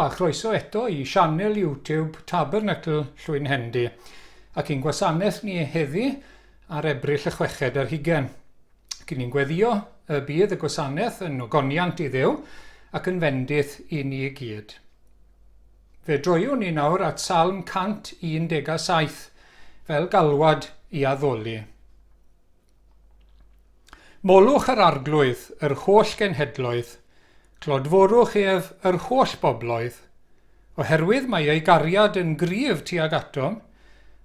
a chroeso eto i sianel YouTube Tabernacle Llwyn Hendy ac i'n gwasanaeth ni heddi ar ebryll y chweched ar hugen. Cyn ni'n gweddio y bydd y gwasanaeth yn ogoniant i ddew ac yn fendith i ni i gyd. Fe droiwn ni nawr at Salm 117 fel galwad i addoli. Molwch yr Arglwydd, yr holl genhedloedd, clodforwch ef, yr holl bobloedd, oherwydd mae ei gariad yn gryf tuag atom,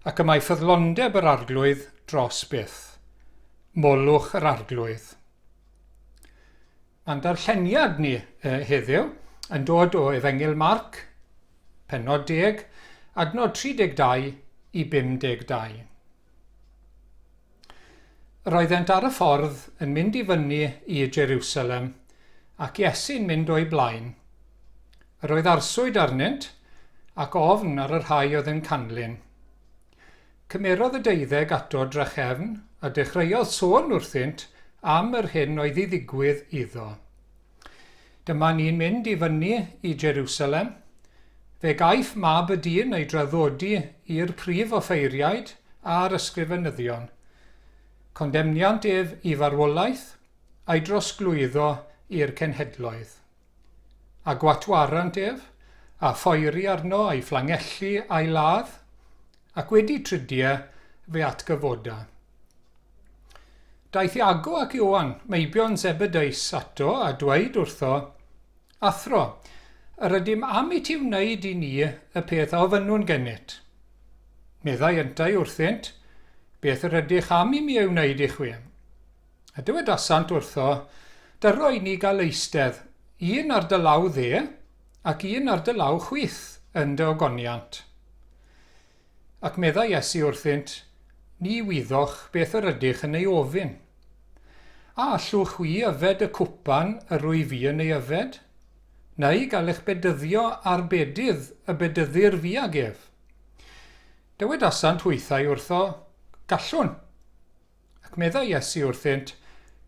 ac y mae ffyddlondeb yr Arglwydd dros byth. Molwch yr Arglwydd. Mae'n darlleniad ni eh, heddiw yn dod o Efengyl Marc, penod 10, adnod 32 i 52. Roeddent ar y ffordd yn mynd i fyny i Jerusalem, ac Iesu'n mynd o'u blaen. Yr oedd arswyd arnynt, ac ofn ar y rhai oedd yn canlyn. Cymerodd y deuddeg ato drachefn, a dechreuodd sôn wrthynt am yr hyn oedd i ddigwydd iddo. Dyma ni'n mynd i fyny i Jerusalem. Fe gaiff Mab y Dyn ei draddodi i'r prif offeiriaid a'r ysgrifenyddion. Condemniant ef i farwolaeth, a'i drosglwyddo i'r cenhedloedd. A gwatwarant ef, a phoeri arno a'i fflangellu a'i ladd, Ac wedi tridio, fe atgyfoda. Daeth Iago ac Ioan, meibion Zebedeus, ato, a dweud wrtho, Athro, yr ydym am i ti wneud i ni y peth a ofynnwn genyt. Meddai yntau wrthynt, Beth yr ydych am i mi ei wneud i chwi? A dywedasant wrtho, Dyro i ni gael eistedd, un ar dy law dde, ac un ar dy law chwith, yn dy ogoniant. Ac meddai Iesu wrthynt, Ni wyddoch beth yr ydych yn ei ofyn. A allwch chwi yfed y cwpan yr wyf fi yn ei yfed? Neu gael eich bedyddio â'r bedydd y bedyddir fi ag ef? Dywedasant hwythau wrtho, Gallwn. Ac meddai Iesu wrthynt,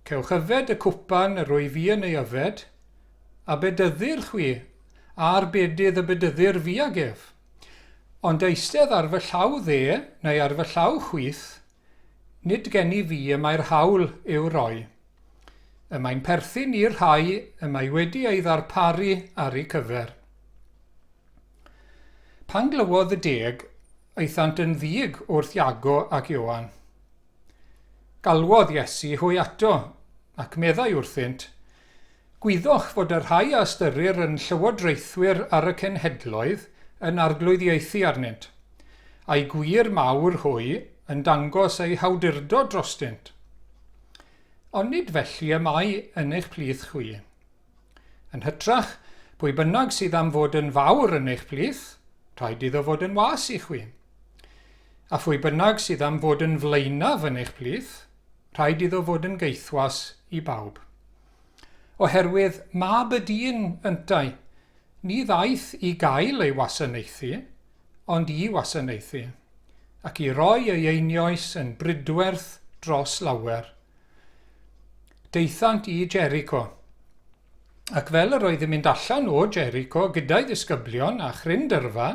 Cewch yfed y cwpan yr wyf fi yn ei yfed, a bedyddir chwi, a'r bedydd y bedyddir fi ag ef. Ond eistedd ar fy llaw dde, neu ar fy llaw chwith, nid gen i fi y mae'r haul i'w roi. Y mae'n perthyn i'r rhai y mae wedi ei ddarparu ar eu cyfer. Pan glywodd y deg, Aethant yn ddig wrth Iago ac Ioan. Galwodd Iesu hwy ato, ac meddai wrthynt, Gwyddoch fod y rhai a ystyrir yn llywodraethwyr ar y cenhedloedd yn arglwyddiaethu arnynt, a'u gwir mawr hwy yn dangos eu hawdurdod drostynt. Ond nid felly y mae yn eich plith chwi. Yn hytrach, pwy bynnag sydd am fod yn fawr yn eich plith, rhaid iddo fod yn was i chwi. A phwy bynnag sydd am fod yn flaenaf yn eich plith, rhaid iddo fod yn geithwas i bawb. Oherwydd mab y dyn yntau, ni ddaeth i gael ei wasanaethu, ond i wasanaethu, ac i roi ei einioes yn brydwerth dros lawer. Daethant i Jericho. Ac fel yr oedd yn mynd allan o Jericho gyda'i ddisgyblion a chryn dyrfa,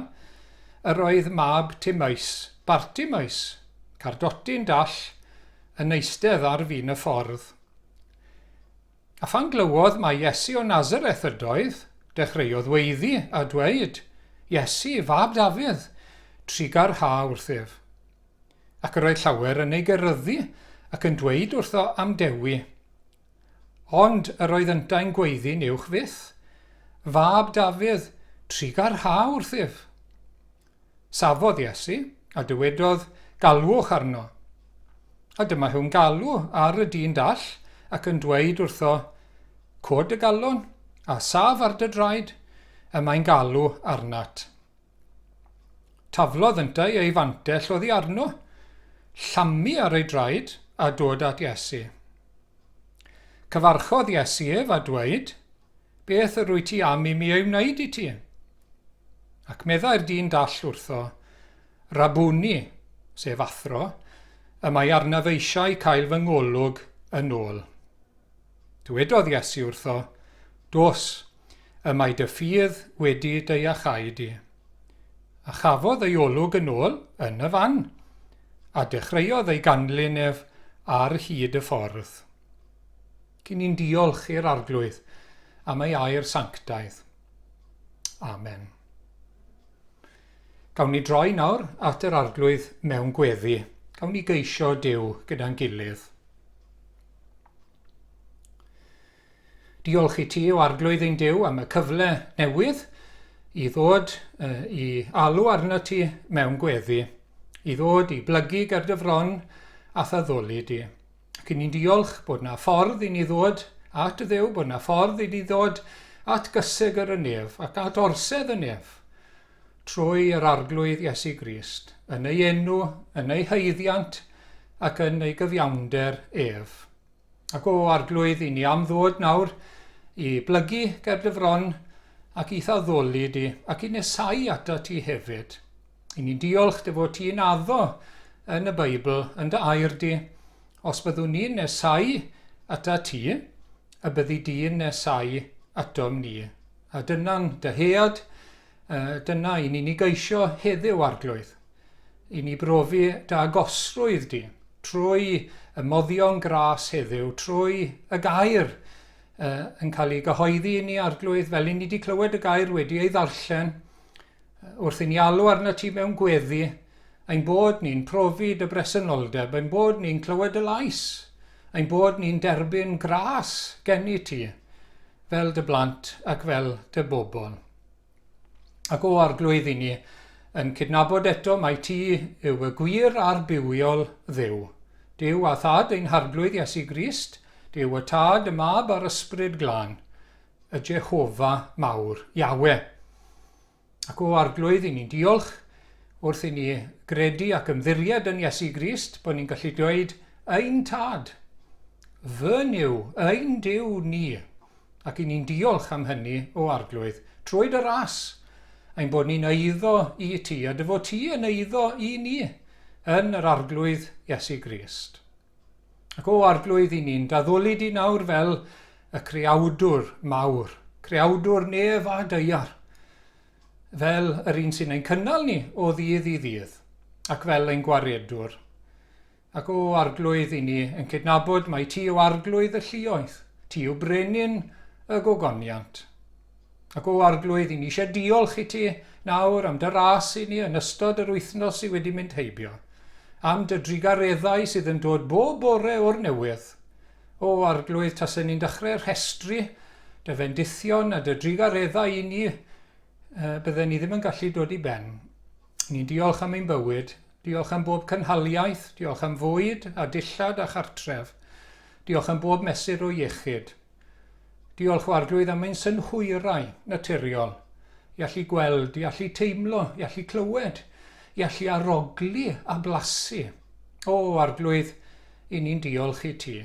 yr oedd mab Timaeus, Bartimaeus, cardotyn dall, yn eistedd ar fin y ffordd. A phan glywodd mai Iesu o Nazareth ydoedd, dechreuodd weiddi a dweud, Iesu, fab Dafydd, trugar ha wrthyf. Ac yr oedd llawer yn ei geryddu ac yn dweud wrtho am Dewi. Ond yr oedd yntau'n gweiddi'n uwch fyth, Fab Dafydd, trugar ha wrthyf. Safodd Iesu, a dywedodd, Galwch arno. A dyma hu'n galw ar y dyn dall ac yn dweud wrtho, Cod dy galon, a saf ar dy draed, y mae'n galw arnat. Taflodd yntau ei fantell oddi arno, llamu ar ei draed, a dod at Iesu. Cyfarchodd Iesu ef a dweud, Beth yr wyt ti am i mi ei wneud i ti? Ac meddai'r dyn dall wrtho, Rabuni, sef athro, y mae arnaf eisiau cael fy ngolwg yn ôl. Dywedodd Iesu wrtho, Dos, y mae dy ffydd wedi dy iachau di. A chafodd ei olwg yn ôl yn y fan, a dechreuodd ei ganlyn ef ar hyd y ffordd. Cyn i'n diolch i'r Arglwydd am ei air sanctaidd. Amen. Gawn ni droi nawr at yr Arglwydd mewn gweddi. Gawn ni geisio Dyw gyda'n gilydd. Diolch i ti o Arglwydd ein Dyw am y cyfle newydd i ddod uh, i alw arno ti mewn gweddi, i ddod i blygu ger dy fron a'th addoli di. Ac i ni'n diolch bod 'na ffordd i ni ddod at y Dduw, bod 'na ffordd i ni ddod at gyseg yr ynef ac at orsedd y nef trwy yr arglwydd Iesu Grist, yn ei enw, yn ei haeddiant ac yn ei gyfiawnder ef. Ac o arglwydd i ni am ddod nawr i blygu ger dy fron ac i'th addoli di ac i nesau ato ti hefyd. I ni'n diolch dy fod ti'n addo yn y Beibl, yn dy air di. Os byddwn ni'n nesau ata ti, y byddi di'n nesau atom ni. A dyna'n dyhead, dyna i ni'n ei geisio heddiw arglwydd. I ni brofi dy agosrwydd di trwy y moddion gras heddiw, trwy y gair yn cael ei gyhoeddi i ni arglwydd, fel i ni wedi clywed y gair wedi ei ddarllen, Wrth i ni alw arnat ti mewn gweddi, ein bod ni'n profi dy bresenoldeb, ein bod ni'n clywed dy lais, ein bod ni'n derbyn gras gennyt ti fel dy blant ac fel dy bobl. Ac o arglwydd i ni yn cydnabod eto mai ti yw y gwir a'r bywiol ddew. Dyw a thad ein harglwydd Iesu Grist, dyw y tad, y mab a'r ysbryd glân, y Jehofa mawr, Iawe. Ac o Arglwydd, i ni'n diolch wrth i ni gredu ac ymddiried yn Iesu Grist bod ni'n gallu dweud, Ein Tad, fy Nuw, ein Duw ni. Ac i ni'n diolch am hynny, o Arglwydd, trwy dy ras, ein bod ni'n eiddo i ti, a dy fod ti yn eiddo i ni, yn yr Arglwydd Iesu Grist. Ac o Arglwydd i ni'n daddoli di nawr fel y creawdwr mawr, creawdwr nef a deiar, fel yr un sy'n ein cynnal ni o ddydd i ddydd, ac fel ein gwaredwr. Ac o Arglwydd i ni yn cydnabod mai ti yw Arglwydd y llioedd, ti yw brenin y gogoniant. Ac o Arglwydd, 'y ni eisiau diolch i ti nawr am dy ras i ni yn ystod yr wythnos sydd wedi mynd heibio, am dy drugareddau sydd yn dod bob bore o'r newydd. O Arglwydd, tasen ni'n dechrau rhestru dy fendithion a dy drugareddau i ni, bydden ni ddim yn gallu dod i ben. Ni'n diolch am ein bywyd, diolch am bob cynhaliaeth, diolch am fwyd a dillad a chartref, diolch am bob mesur o iechyd. Diolch o arglwydd am ein synhwyrau naturiol, i allu gweld, i allu teimlo, i allu clywed, i allu arogli a blasu. O, arglwydd, i ni'n diolch i ti.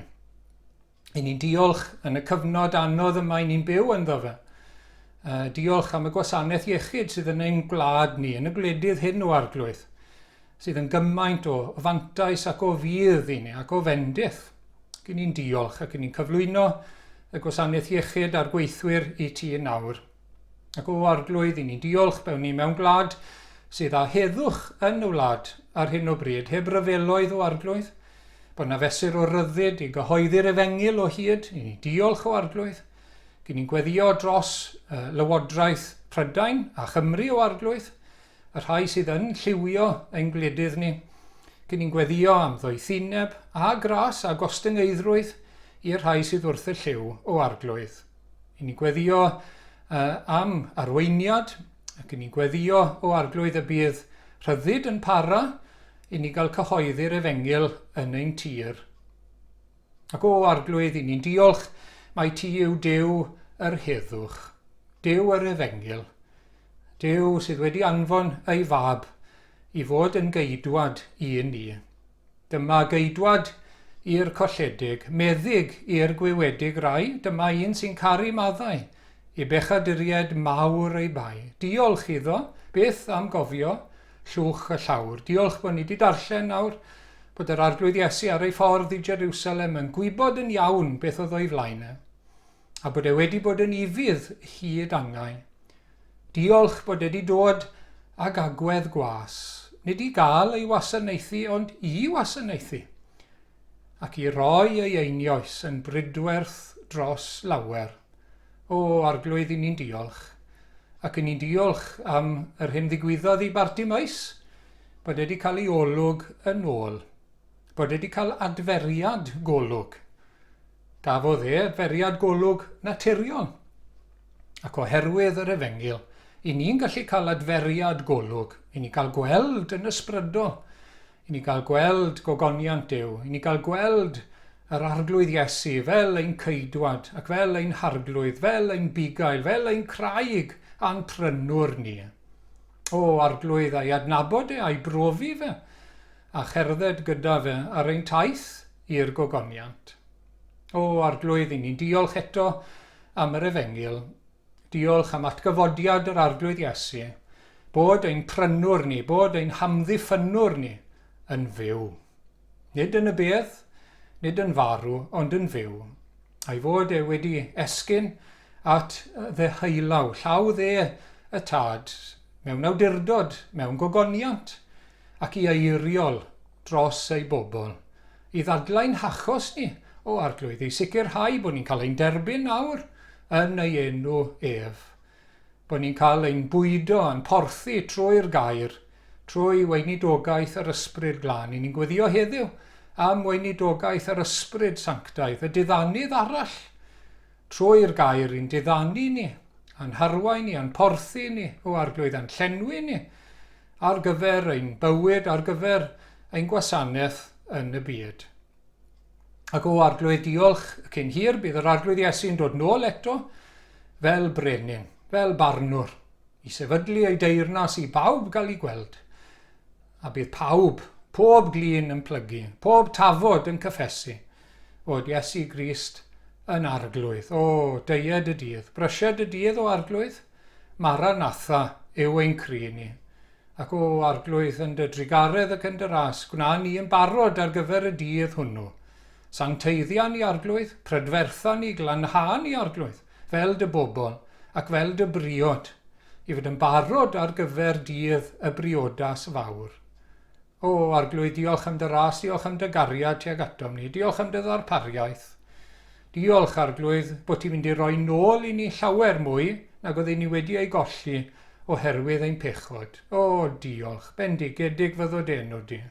I ni'n diolch yn y cyfnod anodd yma i ni'n byw ynddo fe. Uh, diolch am y gwasanaeth iechyd sydd yn ein gwlad ni, yn y gwledydd hyn o arglwydd. sydd yn gymaint o fantais ac o fudd i ni ac o fendith. Gyn ni'n diolch ac yn ni'n cyflwyno y gwasanaeth iechyd a'r gweithwyr i ti yn awr. Ac o arglwydd i ni'n diolch bewn ni mewn gwlad sydd â heddwch yn y wlad ar hyn o bryd, heb ryfeloedd o arglwydd, bod na fesur o ryddid i gyhoeddi'r efengyl o hyd, i ni diolch o arglwydd, gyn ni'n gweddio dros uh, lywodraeth Prydain a Chymru o arglwydd, y rhai sydd yn lliwio ein gwledydd ni, cyn ni'n gweddïo am ddoethineb a gras a gostyngeiddrwydd i'r rhai sydd wrth y llyw o arglwydd. Yn ni'n gweddïo uh, am arweiniad, ac yn ni'n gweddïo o arglwydd y bydd rhyddid yn para i ni gael cyhoeddi'r efengyl yn ein tir. Ac o arglwydd, i ni'n diolch, mae ti yw Dyw yr heddwch, Dyw yr efengyl, Duw sydd wedi anfon ei Fab i fod yn geidwad i ni. Dyma geidwad i'r colledig, meddyg i'r gwiwedig rai, dyma un sy'n caru maddau, i bechaduriaid mawr ei bai. Diolch iddo, byth am gofio llwch y llawr. Diolch bod ni wedi darllen nawr bod yr Arglwydd Iesu ar ei ffordd i Jerusalem yn gwybod yn iawn beth oedd o'i flaen e. a bod e wedi bod yn ufudd hyd angau. Diolch bod e wedi dod ag agwedd gwas, nid i gael ei wasanaethu ond i wasanaethu, ac i roi ei einioes yn bridwerth dros lawer. O, Arglwydd, i ni'n diolch, ac i ni'n diolch am yr hyn ddigwyddodd i Bartimaeus, bod e wedi cael ei olwg yn ôl, bod e wedi cael adferiad golwg, Cafodd e feriad golwg naturiol. Ac oherwydd yr Efengyl, i ni'n gallu cael adferiad golwg, i ni gael gweld yn ysbrydol, i ni gael gweld gogoniant Duw, i ni gael gweld yr Arglwydd Iesu fel ein Ceidwad ac fel ein Harglwydd, fel ein Bugail, fel ein Craig a'n Prynwr ni. O, Arglwydd, a'i adnabod e, a'i brofi fe, a cherdded gyda fe ar ein taith i'r gogoniant. O, Arglwydd, i ni'n diolch eto am yr efengyl. Diolch am atgyfodiad yr Arglwydd Iesu, bod ein prynwr ni, bod ein hamddiffynnwr ni yn fyw. Nid yn y bedd, nid yn farw, ond yn fyw. A'i fod e wedi esgyn at ddeheulaw, llaw dde y tad, mewn awdurdod, mewn gogoniant, ac i eiriol dros eu bobl, i ddadlau'n hachos ni o Arglwydd, i sicrhau bod ni'n cael ein derbyn nawr yn ei enw ef, bod ni'n cael ein bwydo a'n porthi trwy'r gair, trwy weinidogaeth yr Ysbryd Glân. I ni'n gweddio heddiw am weinidogaeth yr Ysbryd Sanctaidd, y diddanydd arall Trwy'r gair i'n diddanu ni, a'n harwain ni, a'n porthi ni, o Arglwydd, a'n llenwi ni ar gyfer ein bywyd, ar gyfer ein gwasanaeth yn y byd. Ac o Arglwydd, diolch y cyn hir, bydd yr Arglwydd Iesu'n dod nôl eto fel brenin, fel barnwr, i sefydlu ei deyrnas i bawb gael ei gweld. A bydd pawb, pob glin yn plygu, pob tafod yn cyffesu, fod Iesu Grist yn Arglwydd. O, deied y dydd, brysied y dydd, o Arglwydd, Maranatha yw ein cri ni. Ac o Arglwydd, yn dy drugaredd ac yn dy ras, gwna ni yn barod ar gyfer y dydd hwnnw. Sancteiddia ni, Arglwydd, prydfertha ni, glanhau ni, Arglwydd, fel dy bobl ac fel dy briod, i fod yn barod ar gyfer dydd y briodas fawr. O, Arglwydd, diolch am dy ras, diolch am dy gariad tuag atom ni, diolch am dy ddarpariaeth. Diolch, Arglwydd, bod ti'n mynd i roi nôl i ni llawer mwy nag oedden ni wedi ei golli oherwydd ein pechod. O, diolch, bendigedig fyddo dy enw di.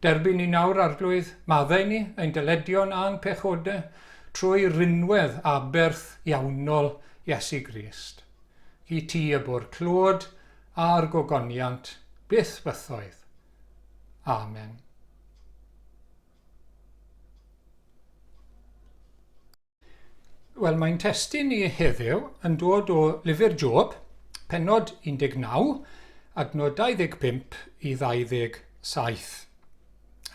Derbyn ni nawr, Arglwydd, maddau ni, ein dyledion a'n pechodau, Trwy rinwedd aberth iawnol Iesu Grist, i ti y bu'r clod a'r gogoniant byth bythoedd. Amen. Wel, mae'n testyn ni heddiw yn dod o lyfr Job, penod 19, adnod 25 i 27.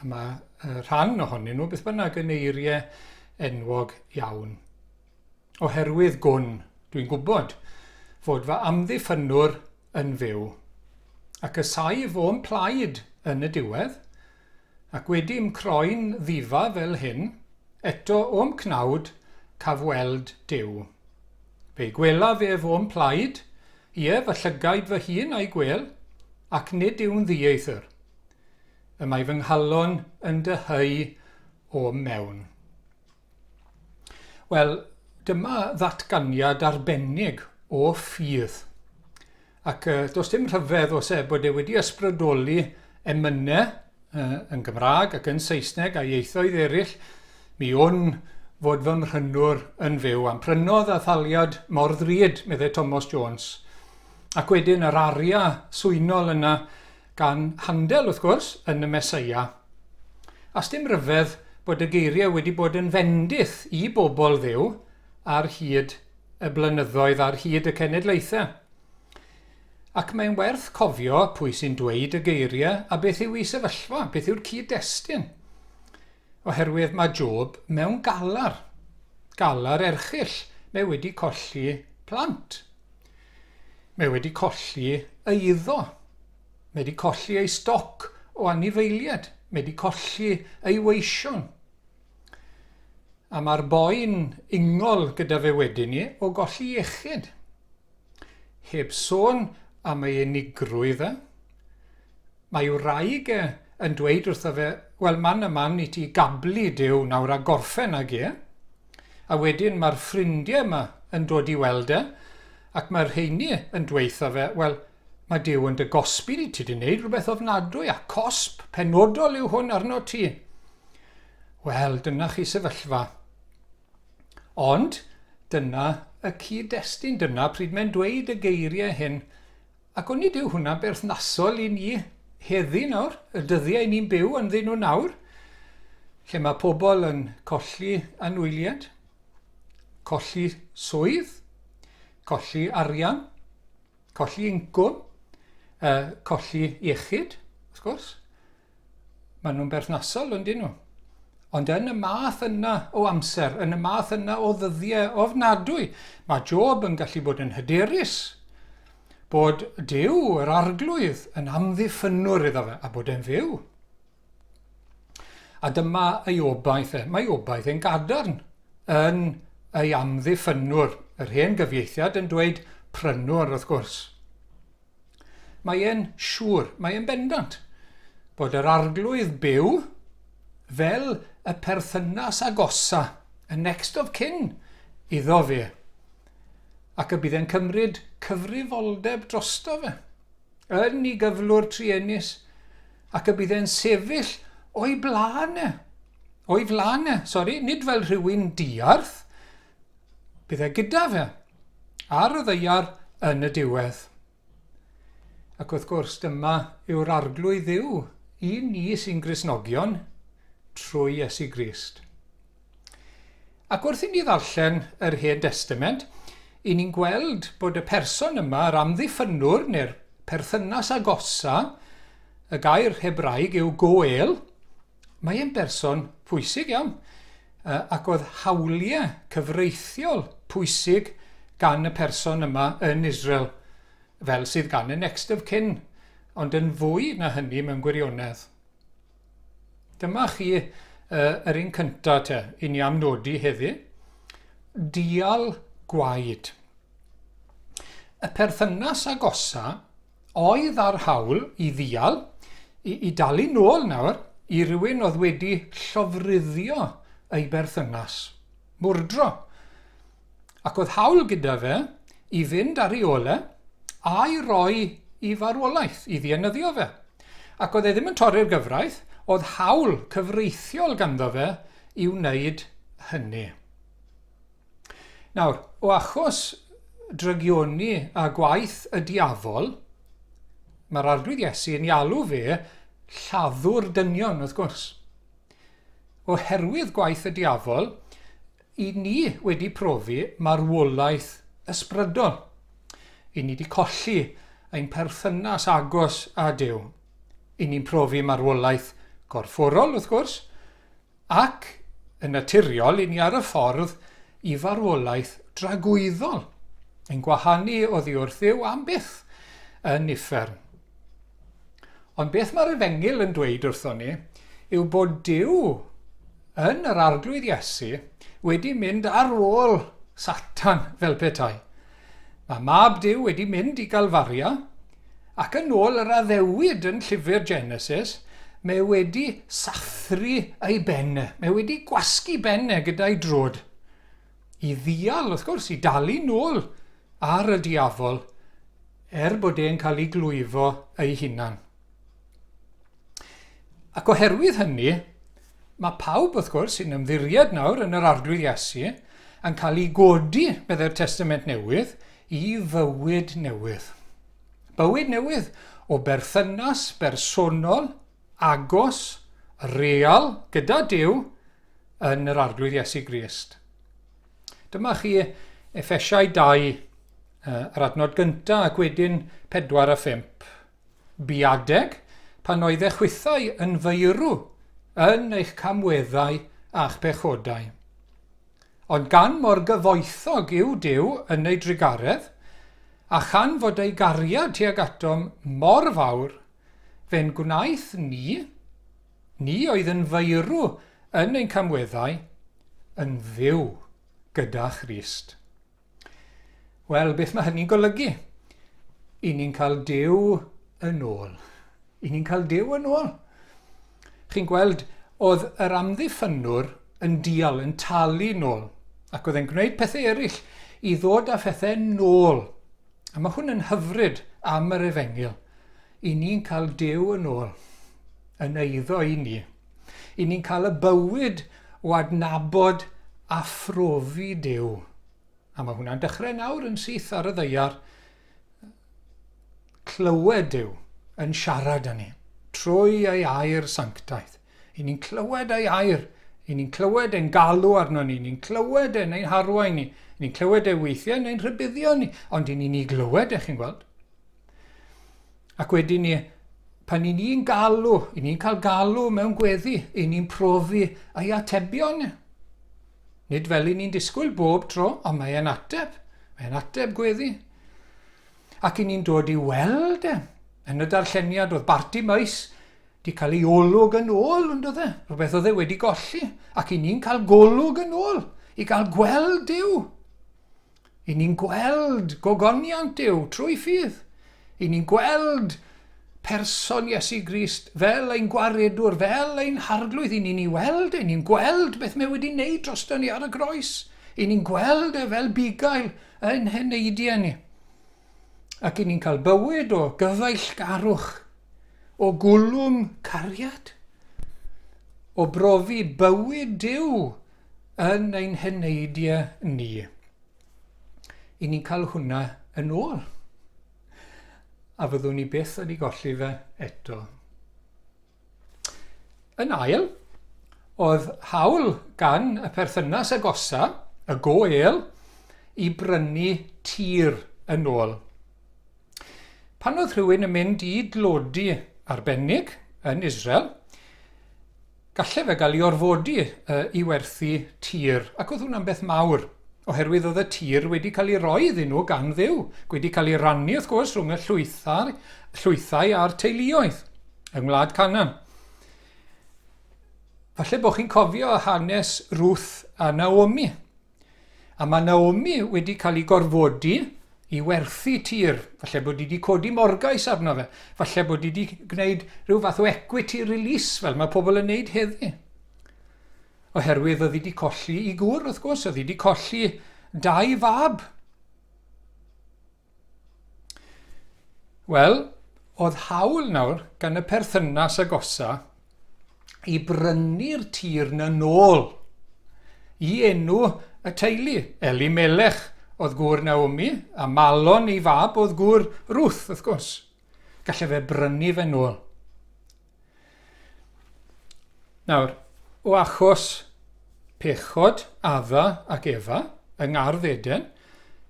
A mae uh, rhan ohonyn nhw beth bynnag yn eiriau enwog iawn. Oherwydd gwn, dwi'n gwybod, fod fy amddiffynwr yn fyw, ac y saif o'n plaid yn y diwedd, ac wedi croen ddifa fel hyn, eto o'm cnawd caf weld Dyw. Fe'i gwelaf ef o'm plaid, ie, fy llygaid fy hun a'i gwel, ac nid yw'n ddieithr. Y mae fy nghalon yn dyheu o'm mewn. Wel, dyma ddatganiad arbennig o ffydd. Ac uh, does dim rhyfedd os e bod e wedi ysbrydoli emynau uh, yn Gymraeg ac yn Saesneg a ieithoedd eraill, mi wn fod fy mhrynwr yn fyw am prynodd a thaliad mor ddrud, meddai Thomas Jones. Ac wedyn yr aria swynol yna, Gan Handel, wrth gwrs, yn y Meseia. A sdim ryfedd bod y geiriau wedi bod yn fendith i bobl Dduw ar hyd y blynyddoedd, ar hyd y cenedlaethau. Ac mae'n werth cofio pwy sy'n dweud y geiriau a beth yw ei sefyllfa, beth yw'r cyd-destun. Oherwydd mae Job mewn galar, galar erchyll, mae wedi colli plant. Mae wedi colli ei iddo. Mae wedi colli ei stoc o anifeiliaid. Mae wedi colli ei weision. A mae'r boi'n ingol gyda fe wedyn ni o golli iechyd. Heb sôn am ei unigrwydd e. Mae wraig e yn dweud wrtho fe, 'Wel, man a man i ti gablu Duw nawr a gorffen ag e. A wedyn mae'r ffrindiau 'ma yn dod i weld e, ac mae'r rheiny yn dweutho fe, 'Wel, mae Duw yn dy gosbi di, ti di wneud rhywbeth ofnadwy, a cosb penodol yw hwn arno ti. Wel, dyna chi sefyllfa. Ond dyna y cyd-destun, dyna pryd mae'n dweud y geiriau hyn, Ac onid yw hwnna'n berthnasol i ni heddi nawr, y dyddiau ni'n byw ynddyn nhw nawr, lle mae pobl yn colli anwyliad, colli swydd, colli arian, colli incwm, uh, colli iechyd, wrth gwrs, Maen nhw'n berthnasol, yn dyn nhw. Ond yn y math yna o amser, yn y math yna o ddyddiau ofnadwy, mae Job yn gallu bod yn hyderus bod Dyw, yr arglwydd, yn amddiffynwr iddo fe a bod e'n fyw. A dyma ei obaith e. Mae obaith e'n gadarn yn ei amddiffynwr. Yr hen gyfieithiad yn dweud prynwr, wrth gwrs. Mae e'n siŵr, mae e'n bendant, bod yr arglwydd byw fel y perthynas agosa, y next of kin, iddo fe, ac y bydd e'n cymryd cyfrifoldeb drosto fe, yn ei gyflwr truenus, ac y bydd e'n sefyll o'i blaen e, o'i flaen e, sori, nid fel rhywun diarth, Bydd e gyda fe ar y ddeiar yn y diwedd. Ac wrth gwrs, dyma yw'r arglwydd dduw i ni sy'n grisnogion trwy Iesu Grist. Ac wrth i ni ddarllen yr Hen Testament, i ni'n gweld bod y person yma, yr amddiffynwr neu'r perthynas agosa, y gair Hebraeg yw goel, Mae e'n berson pwysig iawn yy ac oedd hawliau cyfreithiol pwysig gan y person yma yn Israel, fel sydd gan y next of kin, ond yn fwy na hynny mewn gwirionedd. Dyma chi yy yr un cynta te, i ni am nodi heddi. Dial gwaed. Y perthynas agosa oedd â'r hawl i ddial, i, i dalu nôl nawr i rywun oedd wedi llofruddio ei berthynas, mwrdro. Ac oedd hawl gyda fe i fynd ar ei ole a'i roi i farwolaeth, i ddienyddio fe. Ac oedd e ddim yn torri'r gyfraith, oedd hawl cyfreithiol ganddo fe i wneud hynny. Nawr, o achos drygioni a gwaith y diafol, mae'r Arglwydd Iesu yn ei alw fe lladdwr dynion, wrth gwrs. Oherwydd gwaith y diafol, i ni wedi profi marwolaeth ysbrydol. I ni wedi colli ein perthynas agos â Duw. I ni'n profi marwolaeth gorfforol, wrth gwrs, Ac, yn naturiol, i ni ar y ffordd i farwolaeth dragwyddol, yn gwahanu oddi wrth Dduw am byth yn uffern. Ond beth mae'r Efengyl yn dweud wrthon ni yw bod Duw yn yr Arglwydd Iesu wedi mynd ar ôl Satan fel petai. Mae Mab Duw wedi mynd i Galfaria, ac yn ôl yr addewid yn llyfr Genesis, mae wedi sathru ei ben e, mae wedi gwasgu ben e gyda'i drod, i ddial, wrth gwrs, i dalu nôl ar y diafol, er bod e'n cael ei glwyfo ei hunan. Ac oherwydd hynny, Mae pawb, wrth gwrs, sy'n ymddiried nawr yn yr Arglwydd Iesu yn cael i godi, meddai'r Testament Newydd, i fywyd newydd. Bywyd newydd o berthynas bersonol, agos, real gyda Duw yn yr Arglwydd Iesu Grist. Dyma chi Efesiau 2, yr adnod gyntaf ac wedyn 4 a 5. Bu adeg pan oedd eich hwythau yn feirw yn eich camweddau a'ch pechodau. Ond gan mor gyfoethog yw Duw yn ei drugaredd, a chan fod ei gariad tuag atom mor fawr, fe'n gwnaeth ni, ni oedd yn feirw yn ein camweddau, yn fyw gyda Christ. Wel, beth mae hynny'n golygu? I ni'n cael Duw yn ôl. I ni'n cael Duw yn ôl. Chi'n gweld, oedd yr amddiffynwr yn dial, yn talu nôl, ac oedd e'n gwneud pethau eraill i ddod â phethau nôl. A mae hwn yn hyfryd am yr efengyl. I ni'n cael Duw yn ôl, yn eiddo i ni. 'Y ni'n cael y bywyd o adnabod a phrofi Duw. A mae hwnna'n dechrau nawr yn syth ar y ddeiar. Clywed Duw yn siarad â ni trwy ei air sanctaidd. 'Y ni'n clywed ei air. 'Y ni'n clywed e'n galw arno ni. 'Y ni'n clywed e'n ein harwain ni. 'Y ni'n clywed e weithiau yn ein rhybuddio ni. Ond 'y ni'n ei glywed e, chi'n gweld. Ac wedyn ni, pan i ni'n galw, i ni'n cael galw mewn gweddi, i ni'n profi ei atebion. Nid fel i ni'n disgwyl bob tro, ond mae e'n ateb. Mae e'n ateb gweddi. Ac i ni'n dod i weld e. Yn y darlleniad oedd Barti Maes di cael ei olwg yn ôl, yn dod e? Rhywbeth oedd e wedi golli. Ac i ni'n cael golwg yn ôl, i gael gweld Dyw. I ni'n gweld gogoniant Duw trwy ffydd. I ni'n gweld person Iesu Grist fel ein Gwaredwr, fel ein Harglwydd. I ni'n ei weld e, i ni'n gweld beth mae wedi wneud drosto ni ar y groes. I ni'n gweld e fel bugail yn heneidiau ni. Ac i ni'n cael bywyd o gyfeillgarwch, o gwlwm cariad, o brofi bywyd Duw yn ein heneidia ni. I ni'n cael hwnna yn ôl. A fyddwn ni byth wedi golli fe eto. Yn ail, oedd hawl gan y perthynas agosa, y goel, i brynu tir yn ôl. Pan oedd rhywun yn mynd i dlodi arbennig yn Israel, Gallai fe gael ei orfodi i werthu tir ac oedd hwnna'n beth mawr oherwydd oedd y tir wedi cael ei roi iddyn nhw gan Dduw, wedi cael ei rannu wrth gwrs rhwng y llwythau, llwythau a'r teuluoedd yng Ngwlad Canan. Falle bod chi'n cofio hanes Ruth a Naomi. A mae Naomi wedi cael ei gorfodi i werthu tir. Falle bod hi wedi codi morgais arno fe. Falle bod hi wedi gwneud rhyw fath o equity release fel mae pobl yn wneud heddi. Oherwydd oedd hi wedi colli i gŵr, wrth gwrs, oedd hi wedi colli dau fab. Wel, oedd hawl nawr gan y perthynas agosa i brynu'r tir na nôl i enw y teulu. Eli Melech oedd gŵr Naomi, a Malon ei fab oedd gŵr Ruth, wrth gwrs. Gallai fe brynu fe nôl. Nawr, o achos pechod Adda ac Efa yng ngardd Eden,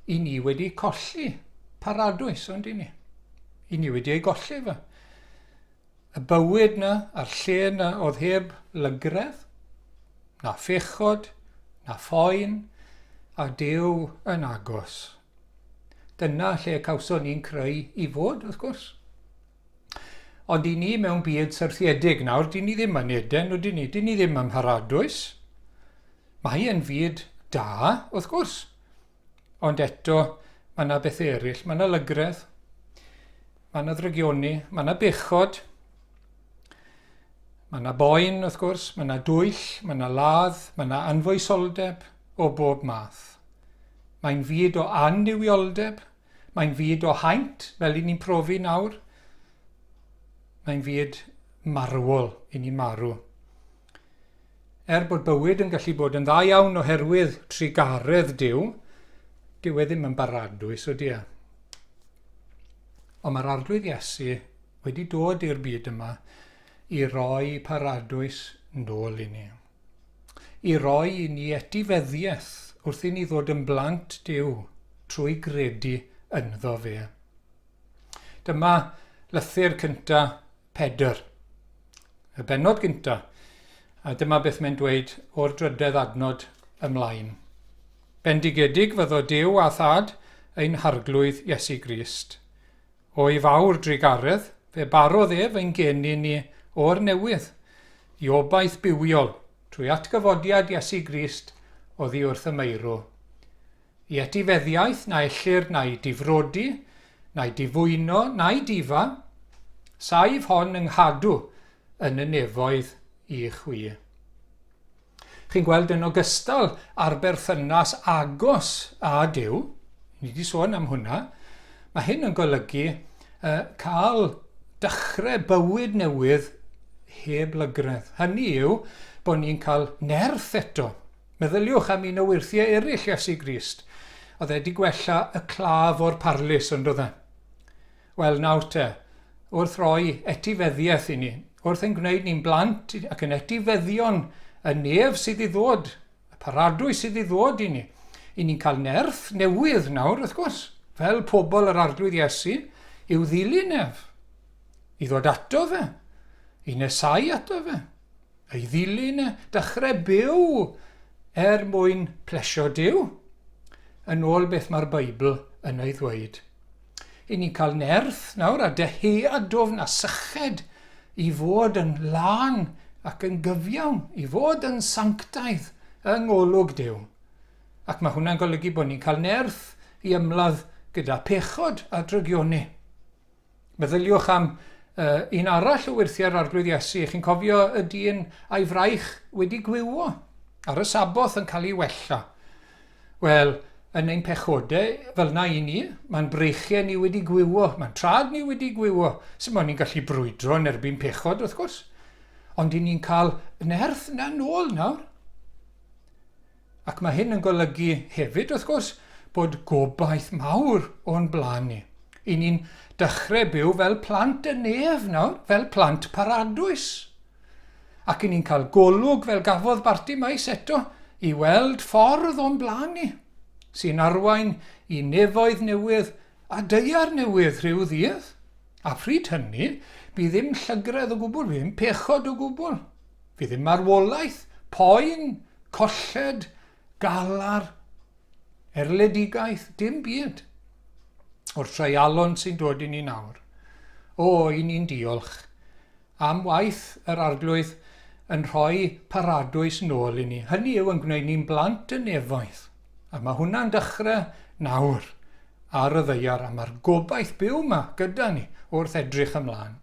i ni wedi colli paradwys, ond i ni. I ni wedi ei golli fe. Y bywyd na, a'r lle na, oedd heb lygredd, na phechod, na phoen, a Dyw yn agos. Dyna lle cawson ni'n creu i fod, wrth gwrs. Ond i ni mewn byd syrthiedig nawr, dyn ni ddim yn Eden, ydyn ni? Dyn ni ddim yn Mharadwys. Mae yn fyd da, wrth gwrs. Ond eto, mae yna bethau eraill. Mae yna lygredd, mae yna ddrygioni, mae yna bechod, mae yna boen, wrth gwrs, mae yna dwyll, mae yna ladd, mae yna anfoesoldeb o bob math. Mae'n fyd o annuwioldeb, Mae'n fyd o haint, fel i ni'n profi nawr. Mae'n fyd marwol, i ni'n marw. Er bod bywyd yn gallu bod yn dda iawn oherwydd trugaredd Dyw, dyw e ddim yn baradwys, ydy e? Ond mae'r arglwydd Iesu wedi dod i'r byd yma i roi paradwys nôl i ni. i roi i ni etifeddiaeth wrth i ni ddod yn blant Duw trwy gredu ynddo fe. Dyma lythyr cynta Pedr, y benod gynta, a dyma beth mae'n dweud o'r drydedd adnod ymlaen. Bendigedig fyddo Duw a Thad ein Harglwydd Iesu Grist, O'i fawr drugaredd, fe barodd ef ein gên i ni o'r newydd i obaith bywiol trwy atgyfodiad Iesu Grist oddi wrth y meirw. I etifeddiaeth na ellir na'i difrodi, na'i difwyno, na'i difa, saif hon yng nghadw yn y nefoedd i chwi. Chi'n gweld yn ogystal â'r berthynas agos â Duw, ni wedi sôn am hwnna, mae hyn yn golygu uh, cael dechrau bywyd newydd heb lygredd. Hynny yw bod ni'n cael nerth eto. Meddyliwch am un o wyrthiau eraill Iesu Grist. Oedd e wedi gwella y claf o'r parlus, ond oedd e? Wel nawr te, wrth roi etifeddiaeth i ni, wrth ein gwneud ni'n blant ac yn etifeddion y nef sydd i ddod, y paradwys sydd i ddod i ni, i ni'n cael nerth newydd nawr, wrth gwrs, fel pobl yr Arglwydd Iesu, i'w ddilyn ef, i ddod ato fe, i nesau ato fe, ei ddilyn e, dechrau byw er mwyn plesio Duw, yn ôl beth mae'r Beibl yn ei ddweud. Ry'n ni'n cael nerth nawr a dyheadwfn a syched i fod yn lân ac yn gyfiawn, i fod yn sanctaidd yng ngolwg Duw. Ac mae hwnna'n golygu bod ni'n cael nerth i ymladd gyda phechod a drygioni. Meddyliwch am uh, un arall o wyrthiau'r Arglwydd Iesu. Chi'n cofio y dyn a'i fraich wedi gwywo ar y saboth yn cael ei wella. Wel, yn ein pechodau, fel yna i ni, mae'n breichiau ni wedi gwywo, mae'n traed ni wedi gwywo, sy'n mwyn ni'n gallu brwydro yn erbyn pechod, wrth gwrs. Ond i ni'n cael nerth yna nôl nawr. Ac mae hyn yn golygu hefyd, wrth gwrs, bod gobaith mawr o'n blaen ni. I ni'n dechrau byw fel plant y nef nawr, fel plant paradwys. Ac i ni'n cael golwg fel gafodd Barti Maes eto i weld ffordd o'n blaen ni, sy'n arwain i nefoedd newydd a daear newydd rhyw ddydd, a phryd hynny, bydd ddim llygredd o gwbl, bydd ddim pechod o gwbl, fydd ddim marwolaeth, poen, colled, galar, erledigaeth, dim byd. O'r treialon sy'n dod i ni nawr. O, i ni'n diolch Am waith yr Arglwydd yn rhoi paradwys nôl i ni. Hynny yw yn gwneud ni'n blant y nefoedd. A mae hwnna'n dechrau nawr ar y ddeiar a mae'r gobaith byw yma gyda ni wrth edrych ymlaen.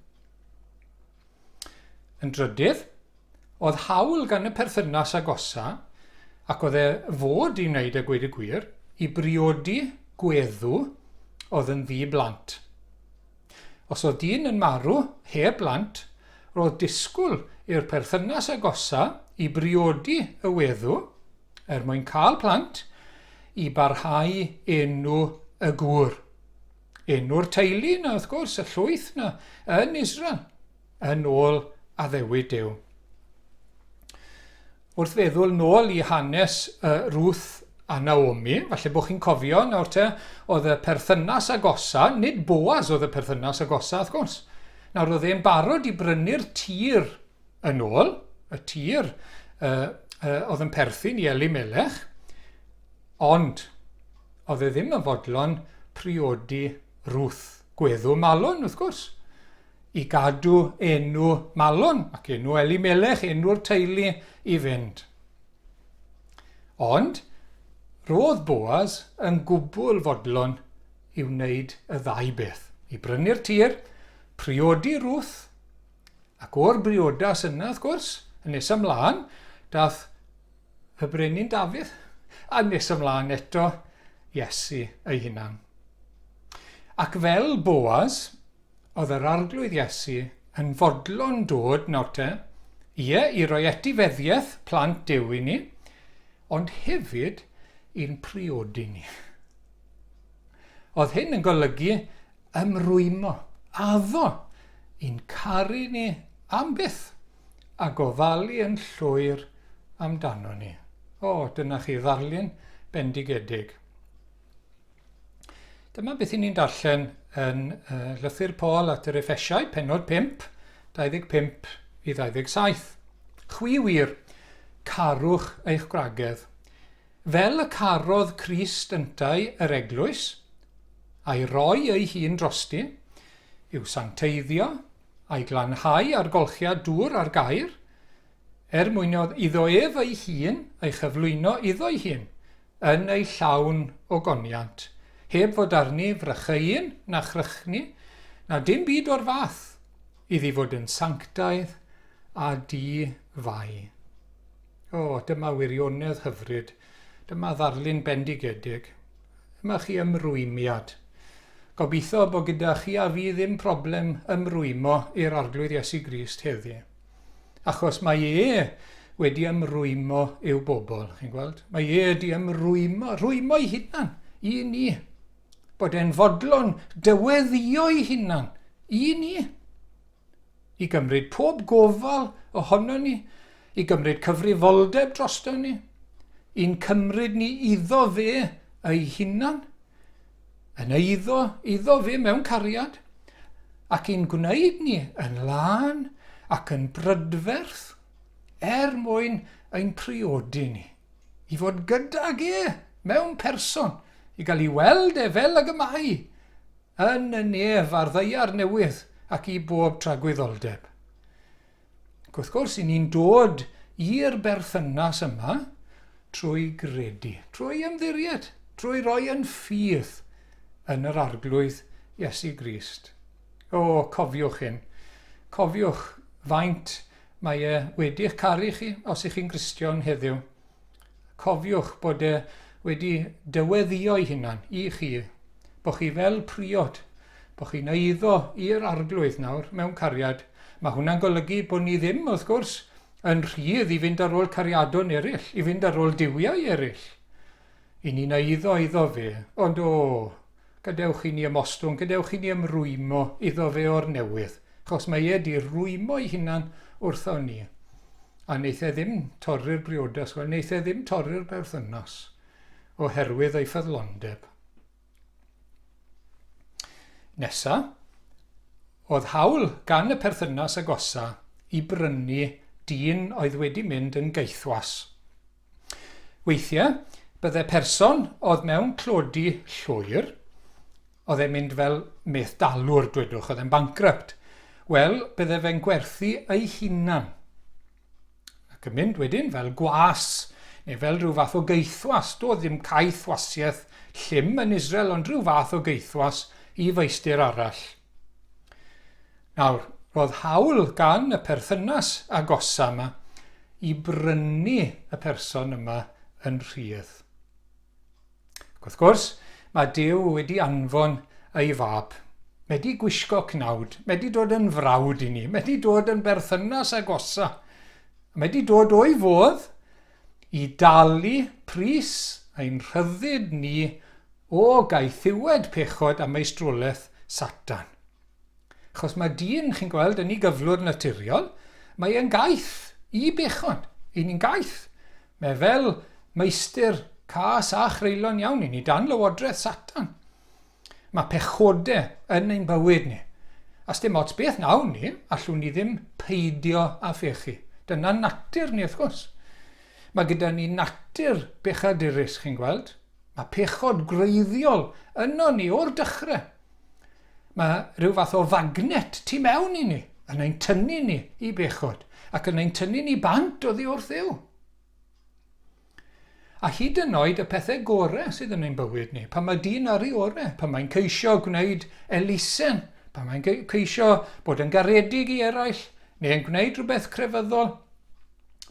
Yn drydydd, oedd hawl gan y perthynas agosa, ac oedd e fod i wneud a gweud y gwir, i briodi gweddw oedd yn ddi blant. Os oedd dyn yn marw heb blant, roedd disgwyl i'r perthynas agosa i briodi y weddw, er mwyn cael plant, i barhau enw y gŵr. Enw'r teulu yna, wrth gwrs, y llwyth yna yn Israel. yn ôl addewid Duw. Wrth feddwl nôl i hanes uh, Ruth a Naomi, falle bod chi'n cofio nawr te, oedd y perthynas agosa, nid Boaz oedd y perthynas agosa, wrth gwrs. Nawr, oedd e'n barod i brynu'r tir yn ôl, y tir uh, uh, oedd yn perthyn i Eli Melech, ond oedd e ddim yn fodlon priodi Ruth, gweddu malon, wrth gwrs. i gadw enw Malon ac enw Elimelech, enw'r teulu, i fynd. Ond roedd Boaz yn gwbl fodlon i wneud y ddau beth, i brynu'r tir, priodi Ruth, ac o'r briodas yna, wrth gwrs, yn nes ymlaen, dath y brenin Dafydd, a nes ymlaen eto, Iesu ei hunan. Ac fel Boaz, Oedd yr Arglwydd Iesu yn fodlon dod nawr te, ie, i roi etifeddiaeth plant Duw i ni, ond hefyd i'n priodi ni. Oedd hyn yn golygu ymrwymo, addo, i'n caru ni am byth a gofalu yn llwyr amdano ni. O, dyna chi ddarlun bendigedig. Dyma beth i ni'n darllen yn uh, Llythyr Paul at yr Efesiau, penod 5, 25 i 27. Chwi wir, carwch eich gwragedd, fel y carodd Crist yntau yr eglwys, a'i roi ei hun drosti, i'w sancteiddio, a'i glanhau ar golchiad dŵr ar gair, er mwyn iddo ef ei hun ei chyflwyno iddo'i hun, yn ei llawn o goniant, heb fod arni frycheuyn na chrychni, na dim byd o'r fath, iddi fod yn sanctaidd a di-fai. O, dyma wirionedd hyfryd, dyma ddarlun bendigedig, dyma chi ymrwymiad. Gobeithio bod gyda chi a fi ddim problem ymrwymo i'r Arglwydd Iesu Grist heddi. Achos mae e wedi ymrwymo i'w bobl, chi'n gweld? Mae e wedi ymrwymo, rwymo'i hunan i ni. Bod e'n fodlon dyweddio'i hunan i ni. I gymryd pob gofal ohono ni, i gymryd cyfrifoldeb drosto ni, i'n cymryd ni iddo fe ei hunan, Yn eiddo iddo fe mewn cariad, ac i'n gwneud ni yn lân ac yn brydferth, er mwyn ein priodi ni, i fod gydag e mewn person, i gael ei weld e fel ag y mae, yn y nef a'r ddaear newydd ac i bob tragwyddoldeb. Ac wrth gwrs, i ni'n dod i'r berthynas yma trwy gredu, trwy ymddiried, trwy roi yn ffydd yn yr arglwydd Iesu Grist. O, cofiwch hyn. Cofiwch faint mae e wedi'ch caru chi os ych chi'n Gristion heddiw. Cofiwch bod e wedi dyweddïo'i hunan i chi bo' chi fel priod, bo' chi'n eiddo i'r Arglwydd nawr mewn cariad. Ma' hwnna'n golygu bo' ni ddim, wrth gwrs, yn rhydd i fynd ar ôl cariadon eryll, i fynd ar ôl duwiau eryll. 'Y ni'n eiddo iddo fe. Ond, o! Gadewch i ni ymostwng, gadewch i ni ymrwymo iddo fe o'r newydd, achos mae e di rwymo'i hunan wrthon ni. A wneith e ddim torri'r briodas, wel, wneith e ddim torri'r berthynas, oherwydd ei ffyddlondeb. Nesa, oedd hawl gan y perthynas agosa i brynu dyn oedd wedi mynd yn gaethwas. Weithiau, bydde person oedd mewn tlodi llwyr, oedd e'n mynd fel medd-dalwr, dwedwch, oedd e'n bankrupt, wel, bydde fe'n gwerthu ei hunan. Ac yn mynd wedyn fel gwas, neu fel rhyw fath o geithwas, doedd ddim caeth wasiaeth llym yn Israel, ond rhyw fath o geithwas i feistr arall. Nawr, roedd hawl gan y perthynas agosa yma i brynu y person yma yn rhydd. Ac wrth gwrs, mae Duw wedi anfon ei fab, wedi gwisgo cnawd, wedi dod yn frawd i ni, wedi dod yn berthynas agosa, wedi dod o'i fodd i dalu pris ein rhyddid ni o gaethiwed pechod a meistrolaeth Satan. Achos mae dyn, chi'n gweld, yn ei gyflwr naturiol, mae e'n gaeth i bechod, i ni'n gaeth. Mae fel meistr cas a chreulon iawn i ni, dan lywodraeth Satan. Mae pechode yn ein bywyd ni. A sdim ots beth wnawn ni, allwn ni ddim peidio â phechu. Dyna natur ni, wrth gwrs. Mae gyda ni natur bechadurus, chi'n gweld. Mae pechod gwreiddiol yno ni o'r dechrau. Mae rhyw fath o fagnet tu mewn i ni, yn ein tynnu ni i bechod, ac yn ein tynnu ni bant oddi wrth Dduw. A hyd yn oed y pethau gorau sydd yn ein bywyd ni, pan mae dyn ar ei orau, pan mae'n ceisio gwneud elusen, pan mae'n ceisio bod yn garedig i eraill, neu yn gwneud rhywbeth crefyddol,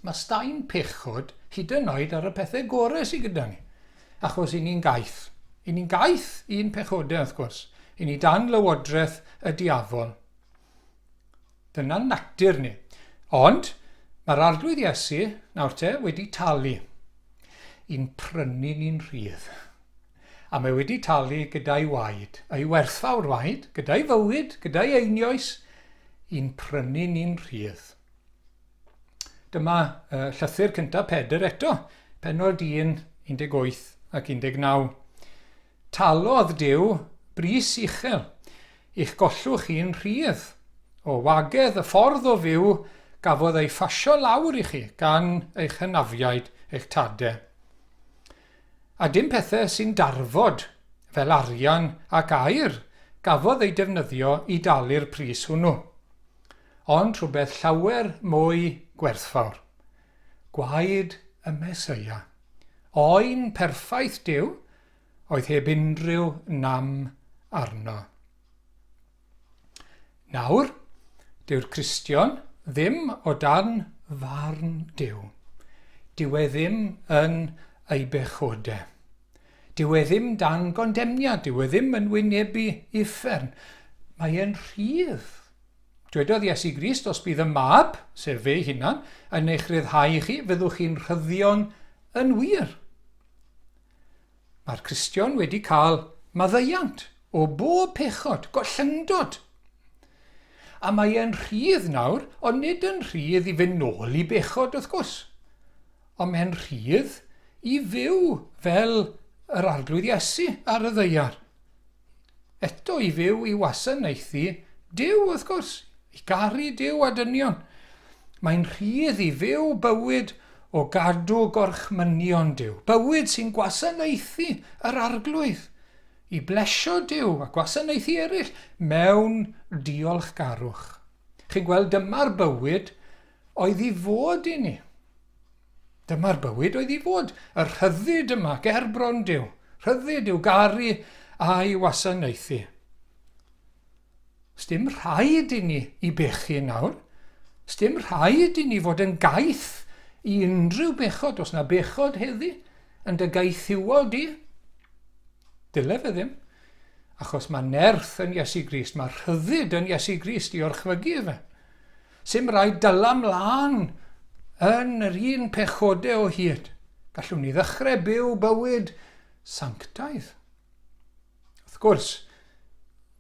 mae staen pechod hyd yn oed ar y pethau gorau sydd gyda ni, achos i ni'n gaeth. I ni'n gaeth i'n pechodau, wrth gwrs. I ni dan lywodraeth y diafol. Dyna'n natur ni. Ond, mae'r Arglwydd Iesu, nawr te, wedi talu i'n prynu ni'n rhydd. A mae wedi talu gyda'i waed, ei werthfawr waed, gyda'i fywyd, gyda'i einioes, i'n prynu ni'n rhydd. Dyma uh, llythyr cyntaf Pedr eto, penod 1, 18 ac 19. Talodd Duw bris uchel, i'ch gollwch chi'n rhydd. O wagedd y ffordd o fyw gafodd ei phasio lawr i chi gan eich hynafiaid, eich tade. A dim pethe sy'n darfod, fel arian ac aer, gafodd eu defnyddio i dalu'r pris hwnnw, ond rhywbeth llawer mwy gwerthfawr, gwaed y Meseia. Oen perffaith Duw oedd heb unrhyw nam arno. Nawr, dyw'r Cristion ddim o dan farn Duw. Dyw e ddim yn ei bechode. Dyw e ddim dan gondemniad, dyw e ddim yn wynebu uffern. Mae e'n rhydd. Dwedodd Iesu Grist, Os bydd y Mab, sef fe'i hunan, yn eich ryddhau i chi, fyddwch chi'n rhyddion yn wir. Mae'r Cristion wedi cael maddeuant o bob pechod, gollyngdod. A mae e'n rhydd nawr, ond nid yn rhydd i fynd nôl i bechod, wrth gwrs. Ond mae'n rhydd i fyw fel yr Arglwydd Iesu ar y ddeiar. Eto i fyw i wasanaethu Duw, wrth gwrs, i garu Duw a dynion. Mae'n rhydd i fyw bywyd o gadw gorchmynion Duw, bywyd sy'n gwasanaethu yr Arglwydd, i blesio Duw a gwasanaethu eraill mewn diolchgarwch. Chi'n gweld, dyma'r bywyd oedd i fod i ni. Dyma'r bywyd oedd i fod, y rhyddid yma, gerbron Duw, rhyddid i'w garu a'i wasanaethu. Sdim rhaid i ni i bechu nawr. Sdim rhaid i ni fod yn gaeth i unrhyw bechod, os na bechod heddi, yn dy gaethiwol di. Dyle fe ddim. Achos mae nerth yn Iesu Grist, mae rhyddid yn Iesu Grist i orchfygu efe. Sim raid dala mlân yn yr un pechode o hyd. Gallwn ni ddechrau byw bywyd sanctaidd. Wrth gwrs,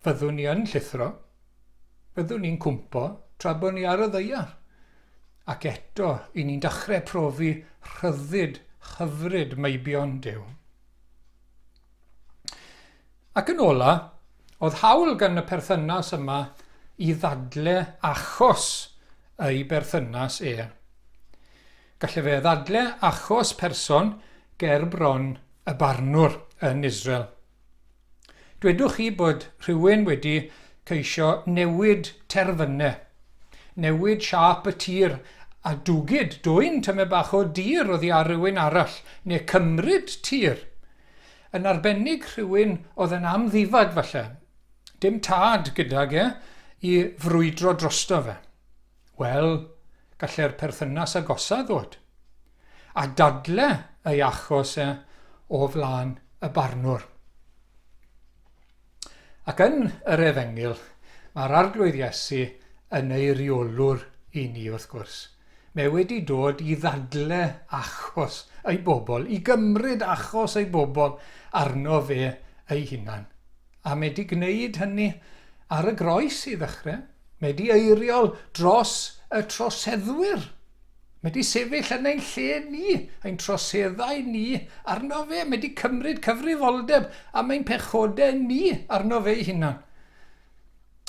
fyddwn ni yn llithro, fyddwn ni'n cwmpo tra bod ni ar y ddeiar, ac eto i ni'n dechrau profi rhyddid hyfryd meibion Duw. Ac yn ola, oedd hawl gan y perthynas yma i ddadle achos ei berthynas e. Gallai fe ddadle achos person ger bron y barnwr yn Israel. Dwedwch chi bod rhywun wedi ceisio newid terfynau, newid siâp y tir a dwgyd dwyn tymed bach o dir oddi ar rywun arall neu cymryd tir Yn arbennig rhywun oedd yn amddifad falle. Dim tad gydag e i frwydro drosto fe. Wel, gallai'r perthynas agosaf ddod. A dadle ei achos e o flaen y barnwr. Ac yn yr Efengyl, mae'r Arglwydd Iesu yn eiriolwr i ni wrth gwrs. Mae wedi dod i ddadle achos ei bobl, i gymryd achos ei bobl arno fe ei hunan. A mae wedi gwneud hynny ar y groes i ddechrau. Mae wedi eiriol dros y troseddwyr. Mae 'di sefyll yn ein lle ni, ein troseddau ni, arno fe, mae 'di cymryd cyfrifoldeb am ein pechodau ni arno fe'i hunan.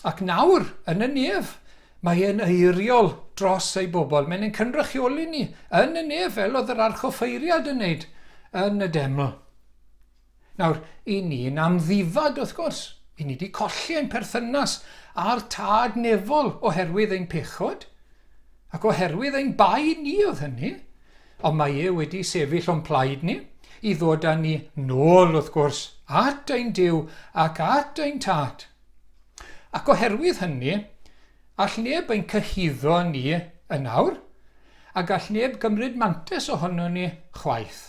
Ac nawr, yn y nef, mae e'n eiriol dros ei bobl, mae'n ein cynrychioli ni yn y nef fel oedd yr archoffeiriad yn wneud yn y deml. Nawr, 'y ni'n amddifad, wrth gwrs. 'Y ni 'di colli ein perthynas â'r Tad Nefol oherwydd ein pechod, ac oherwydd ein bai ni oedd hynny, ond mae e wedi sefyll o'n plaid ni, i ddod â ni 'nôl, wrth gwrs, at ein Duw ac at ein Tad. Ac oherwydd hynny, all neb ein cyhuddo ni yn awr, a gall neb gymryd mantais ohonon ni chwaith.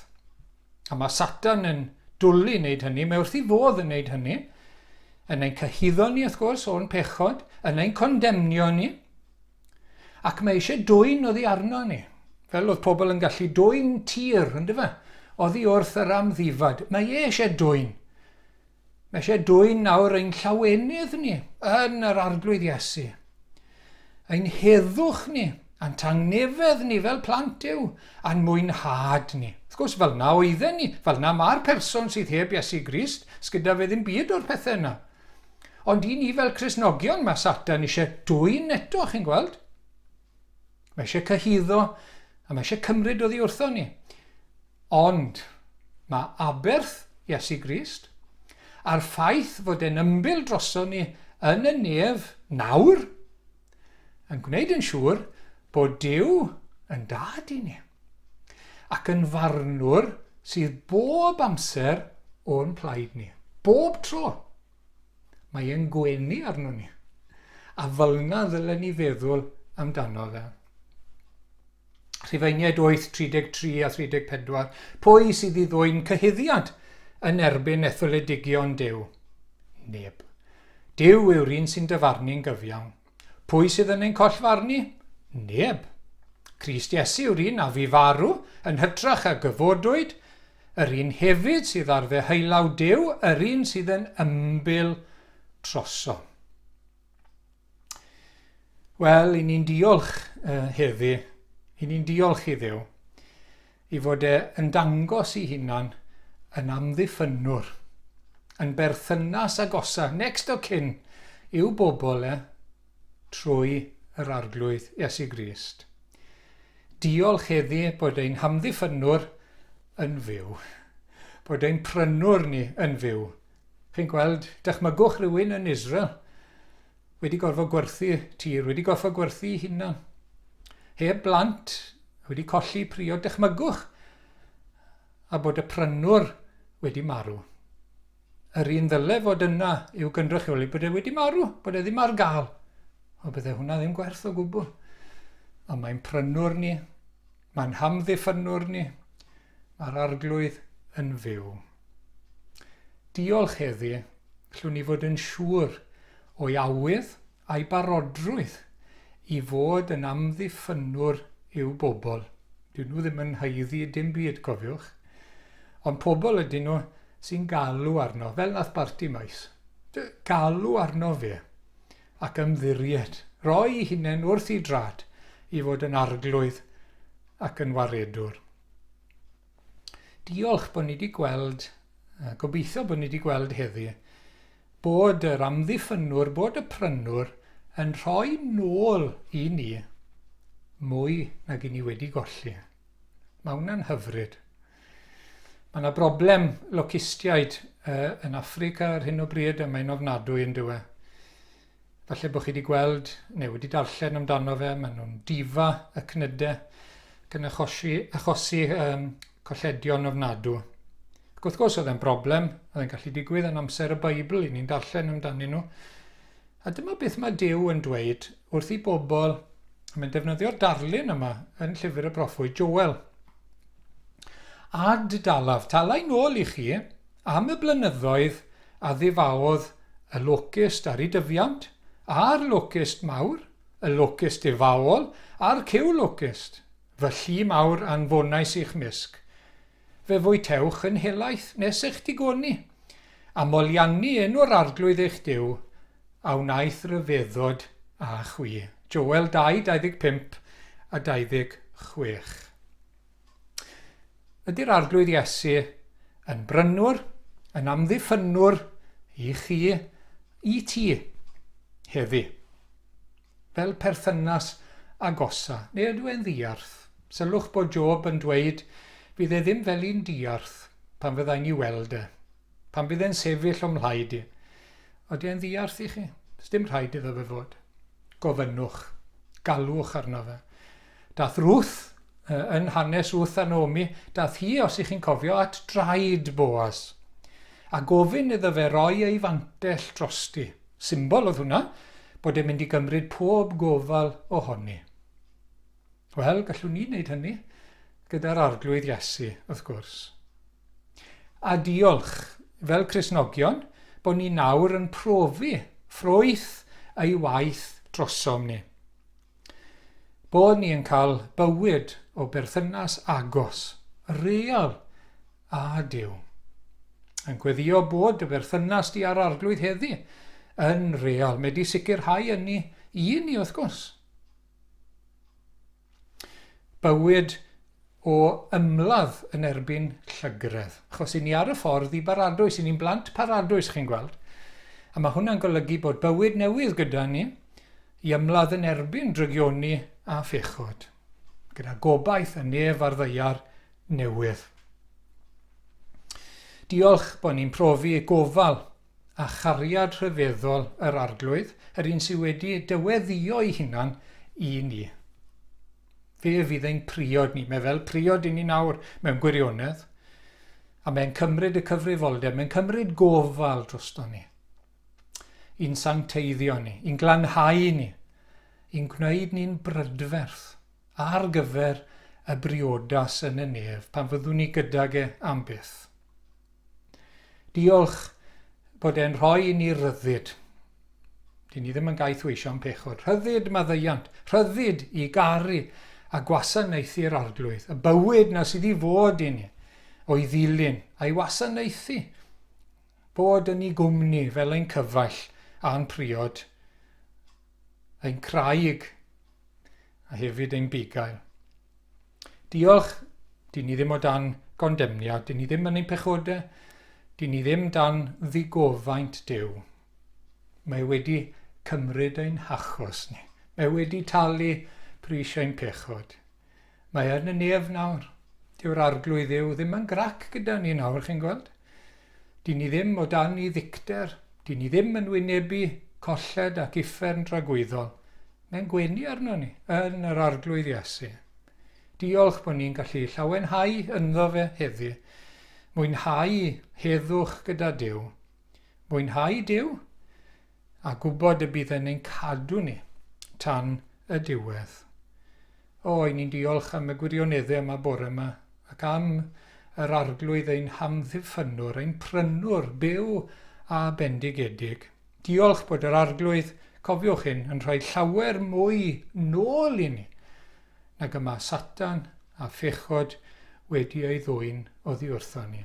A mae Satan yn dwlu wneud hynny, mae wrth ei fodd yn wneud hynny, yn ein cyhuddo ni, wrth gwrs, o'n pechod, yn ein condemnio ni, ac mae eisiau dwy'n oddi arno ni, fel oedd pobl yn gallu dwy'n tir, ynddo fe? Oddi wrth yr amddifad. Mae e eisiau dwy'n. Mae eisiau dwyn nawr ein llawenydd ni yn yr Arglwydd Iesu. Ein heddwch ni, a'n tangnefedd ni fel plant Duw, a'n mwynhad ni. Wrth gwrs, fel na oedden ni, fel na mae'r person sydd heb Iesu Grist, sgyda fe ddim byd o'r pethau yna. Ond i ni fel Cristnogion mae Satan eisiau dwyn eto, chi'n gweld? Mae eisiau cyhuddo a mae eisiau cymryd oddi wrthon ni. Ond mae aberth Iesu Grist a'r ffaith fod e'n ymbil droson ni yn y nef nawr yn gwneud yn siŵr bod Duw yn dad i ni ac yn farnwr sydd bob amser o'n plaid ni, bob tro. Mae e'n gwenu arnon ni. A fylna ddylen ni feddwl amdano fe. Rhufeiniaid 8, 33 a 34, pwy sydd i ddwy'n cyhuddiad yn erbyn etholedigion Duw? Neb. Duw yw'r un sy'n dyfarnu'n gyfiawn. Pwy sydd yn ein collfarnu? Neb. Crist Iesu yw'r un a fu farw, yn hytrach a gyfodwyd, yr un hefyd sydd ar ddeheullaw Duw, yr un sydd yn ymbil trosom. Wel, i ni'n diolch uh, heddi, i ni'n diolch i ddew. ei fod e yn dangos ei hunan yn amddiffynnwr, yn berthynas agosa, next of kin, i'w bobl e, trwy yr Arglwydd Iesu Grist. Diolch heddi bod ein hamddiffynnwr yn fyw, bod ein prynwr ni yn fyw. Chi'n gweld, dychmygwch rhywun yn Israel, wedi gorfod gwerthu tir, wedi gorfod gwerthu ei hunan, heb blant, wedi colli priod, dychmygwch, a bod y prynwr wedi marw. Yr un ddyle fod yna i'w gynrychioli bod e wedi marw, bod e ddim ar gael. O, bydde hwnna ddim gwerth o gwbl. Ond mae'n prynwr ni, Mae'n hamddiffynnwr ni, mae'r Arglwydd yn fyw. Diolch heddi, llwn ni fod yn siŵr o'i awydd a'i barodrwydd i fod yn amddiffynnwr i'w bobl. Dyn nhw ddim yn haeddu dim byd, cofiwch. Ond pobl ydyn nhw sy'n galw arno, fel nath Barti Maes. Galw arno fe. ac ymddiried, roi hunain wrth i drad i fod yn arglwydd ac yn waredwr. Diolch bod ni wedi gweld, gobeithio bod ni wedi gweld heddi, bod yr amddiffynwr, bod y prynwr yn rhoi nôl i ni mwy nag i ni wedi golli. Mae hwnna'n hyfryd. Mae 'na broblem locistiaid yn Affrica ar hyn o bryd a mae'n ofnadwy yn dyw e. Falle bod chi wedi gweld neu wedi darllen amdano fe, maen nhw'n difa y cnyde ac yn achosi, achosi um, colledion ofnadw. Ac wrth gwrs oedd e'n broblem, oedd e'n gallu digwydd yn amser y Beibl, i ni'n darllen amdanyn nhw. A dyma beth mae Dyw yn dweud wrth i bobl, a mae'n defnyddio'r darlun yma yn llyfr y broffwyd Joel. A dy dalaf talai nôl i chi am y blynyddoedd a ddifaodd y locust ar ei dyfiant, a'r locust mawr, y locust difaol, a'r cyw locust, fy llu mawr anfonais i'ch mysg. Fe fwytewch yn helaeth nes eich digoni, a moliannu enw'r Arglwydd eich Duw, a wnaeth ryfeddod â chwi. Joel 2, 25 a 26. Ydy'r Arglwydd Iesu yn brynwr, yn amddiffynnwr i chi, i ti, heddi? Fel perthynas agosa, neu ydw e'n ddiarth? Sylwch bod Job yn dweud, Fydd e ddim fel un diarth pan fyddai'n ei weld e. Pan bydd e'n sefyll o'm mhlaid i, odi e'n ddiarth i chi? Sdim rhaid iddo fe fod. Gofynnwch. Galwch arno fe. Dath Ruth, yn hanes Ruth a Naomi, dath hi, os ych chi'n cofio, at draed Boas, a gofyn iddo fe roi ei fantell drosti. Symbol oedd hwnna, bod e'n mynd i gymryd pob gofal ohoni. Wel, gallwn ni wneud hynny gyda'r Arglwydd Iesu, wrth gwrs. A diolch, fel Cristnogion, bod ni nawr yn profi ffrwyth ei waith drosom ni. Bod ni yn cael bywyd o berthynas agos, real â Duw. Yn gweddio bod dy berthynas di â'r Arglwydd heddi yn real. Mae di sicrhau ynni i ni, wrth gwrs. bywyd o ymladd yn erbyn llygredd, achos 'yn ni ar y ffordd i baradwys, 'yn ni'n blant paradwys, chi'n gweld. A mae hwnna'n golygu bod bywyd newydd gyda ni i ymladd yn erbyn drygioni a phechod, gyda gobaith yn nef ar ddeiar newydd. Diolch bod ni'n profi gofal a chariad rhyfeddol yr Arglwydd, yr un sydd wedi dyweddïo'i hunan i ni. Fe fydd ein priod ni, mae fel priod i ni nawr mewn gwirionedd, a mae'n cymryd y cyfrifoldeb, mae'n cymryd gofal drosto ni, i'n sancteiddio ni, i'n glanhau ni, i'n gwneud ni'n brydferth ar gyfer y briodas yn y nef pan fyddwn ni gydag e am byth. Diolch bod e'n rhoi i ni ryddid. Dyn ni ddim yn gaeth weisio am pechod. Rhyddid maddeuant, rhyddid i garu a gwasanaethu'r arglwydd, y bywyd na sydd i fod i ni, o'i ddilyn, a'i wasanaethu, bod yn ei gwmni fel ein cyfaill a'n priod. ein craig a hefyd ein bugail. Diolch, dyn ni ddim o dan gondemniad, dyn ni ddim yn ein pechodau, dyn ni ddim dan ddigofaint Duw. Mae wedi cymryd ein hachos ni. Mae wedi talu pris ein pechod. Mae yn y nef nawr. Dyw'r Arglwydd Dduw ddim yn grac gyda ni nawr, chi'n gweld. Dyn ni ddim o dan i ddicter. Dyn ni ddim yn wynebu colled ac uffern dragwyddol. Mae'n gwenu arno ni, yn yr Arglwydd Iesu. Diolch bod ni'n gallu llawenhau ynddo fe heddi. Mwynhau heddwch gyda Duw. Mwynhau Duw? a gwybod y bydd yn ein cadw ni tan y diwedd. O, i ni'n diolch am y gwirioneddau yma bore yma, ac am yr Arglwydd ein hamddiffynnwr, ein prynwr byw a bendigedig. Diolch bod yr Arglwydd, cofiwch hyn, yn rhoi llawer mwy nôl i ni nag y mae Satan a phechod wedi ei ddwyn oddi wrthon ni.